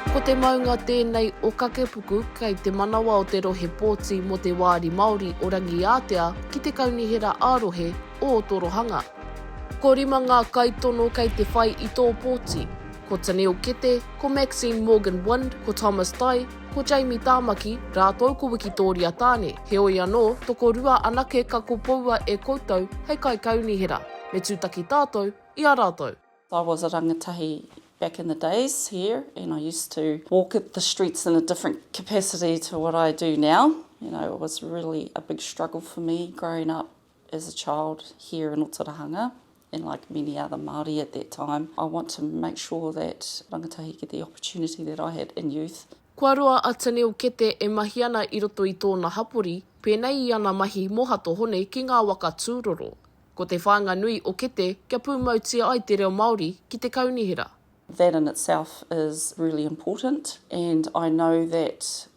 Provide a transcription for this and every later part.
Ko te maunga tēnei o Kakepuku kei te manawa o te rohe pōti mō te Wāri Māori o Rangiātea ki te Kaunihera ā-Rohe o Otorohanga. Ko rima ngā kaitono kei te whai i tō pōti, ko Tanil Kete, ko Maxine Morgan-Wind, ko Thomas Tai, Ko Jamie Tāmaki, rātou ko Wikitōria Tāne, heoi anō, tokorua anake ka kopoua e koutou hei kaikaunihera. Me tūtaki tātou i a rātou. I was a rangatahi back in the days here and I used to walk the streets in a different capacity to what I do now, you know it was really a big struggle for me growing up As a child here in Otorahanga and like many other Māori at that time I want to make sure that rangatahi get the opportunity that I had in youth. Kua roa a Taniel Kete e mahi ana i roto i tōna hapori, pēnei i ana mahi mō Hato Hone ki ngā waka tūroro. Ko te whāinga nui o Kete kia pūmautia ai te reo Māori ki te kaunihera. That in itself is really important and I know that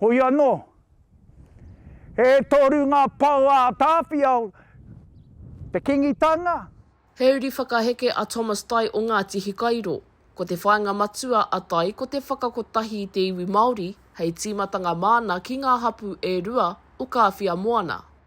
Hoi anō, e toru ngā pou a Tāwhiao, te Kingitanga. He uri whakaheke a Thomas Tai o Ngāti Hikairo. Ko te whāinga matua a Tai ko te whakakotahi i te iwi Māori hei tīmatanga māna ki ngā hapū e rua o Kāwhia Moana.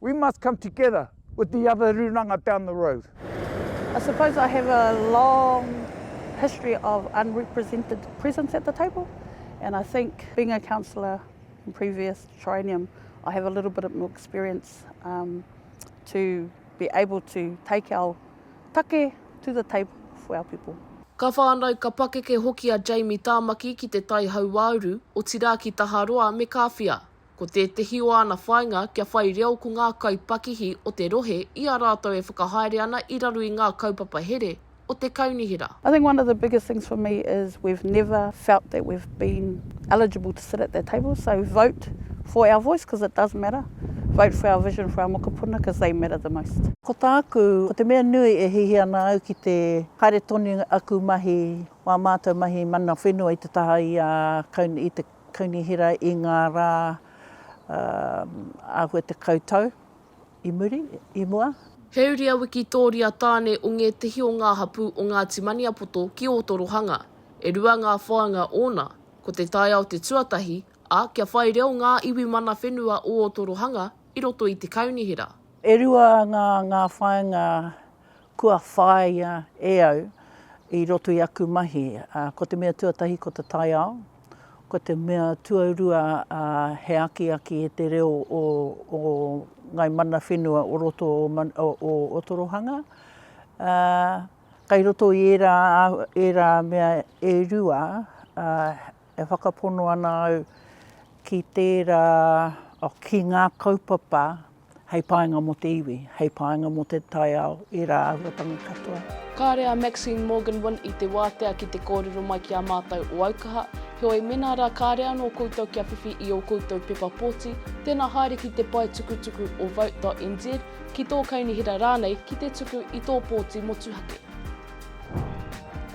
We must come together with the other rūnanga down the road. I suppose I have a long history of unrepresented presence at the table and I think being a councillor in previous triennium I have a little bit more experience um, to be able to take our take to the table for our people. Ka whānau, ka pakeke hoki a Jamie Tāmaki ki te tai hauāuru, otirā ki Taharoa me Kāwhia. Ko tētehi o āna whāinga kia whai reo ko ngā kaipakihi o te rohe i a rātou e whakahaere ana i raro i ngā kaupapa here o te kaunihera. I think one of the biggest things for me is we've never felt that we've been eligible to sit at that table, so vote for our voice because it does matter, vote for our vision for our mokopuna because they matter the most. Ko tāku, ko te mea nui e hihi ana au ki te haere tonu aku mahi, wā mātou mahi mana whenua i te taha i a, i te. Kaunihera i ngā rā āhua tekau tau i muri, i mua. He uri a Wikitōria Tāne o ngētehi o ngā hapū o Ngāti Maniapoto ki Ōtorohanga. E rua ngā whāinga ōna, ko te taiao te tuatahi, ā, kia whai reo ngā iwi mana whenua o Ōtorohanga i roto i te kaunihera. E rua ngā whāinga Kua whāia e au i roto i aku mahi, ko te mea tuatahi ko te taiao, ko te mea tuarua he akiaki i te reo o ngāi mana whenua o roto o Otorohanga. Kei roto i ērā mea e rua, E whakapono ana au ki tērā, ki ngā kaupapa hei painga mō te iwi, hei painga mō te taiao i rāhuatanga katoa. Kāre a Maxine Morgan-Wynne i te wātea ki te kōrero mai ki a mātou o Aukaha, heoi mēnā rā kāre anō koutou kia whiwhi i ō koutou pepa pōti, tēnā haere ki te pae tukutuku o vote.nz, ki tō kaunihera rānei ki te tuku i tō pōti motuhake.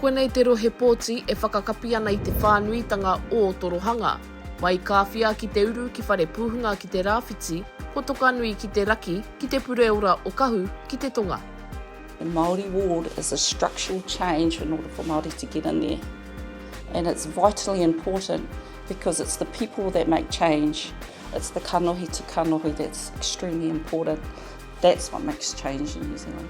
Koinei te rohe pōti e whakakapi ana i te whānuitanga ō Torohanga. Mai Kāwhia ki te uru ki Wharepuhunga ki te rāwhiti, ko Tokanui ki te raki ki te pureora o Kahu ki te tonga. The Māori ward is a structural change in order for Māori to get in there and it's vitally important because it's the people that make change, it's the kanohi to kanohi that's extremely important, that's what makes change in New Zealand.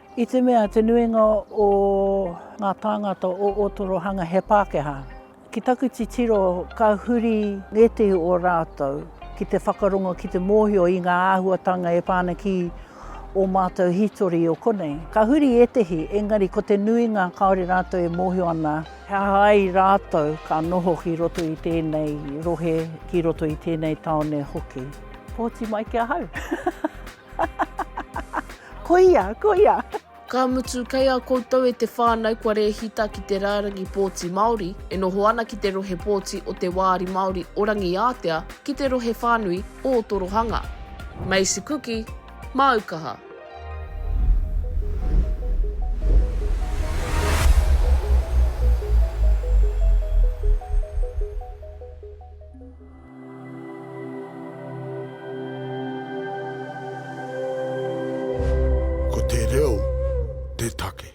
I te mea te nuinga o ngā tāngata o Ōtorohanga he Pākehā, ki taku titiro ka huri ngētehi o rātou ki te whakarongo, ki te mōhio i ngā āhuatanga e pā ana ki ō mātou hītori o konei. Ka huri ētehi, engari ko te nuinga kāore rātou e mōhio ana he aha ai rātou ka noho ki roto i tēnei rohe, ki roto i tēnei tāone hoki. Pōti mai ki ahau! Koia, koia! Ka mutu, kei a koutou e te whānau kua rēhita ki te rārangi pōti Māori e noho ana ki te rohe pōti o te Wāri Māori o Rangiātea ki te rohe whānui o Otorohanga. Macy Kuki, Māu Kaha. Ko te reo te take.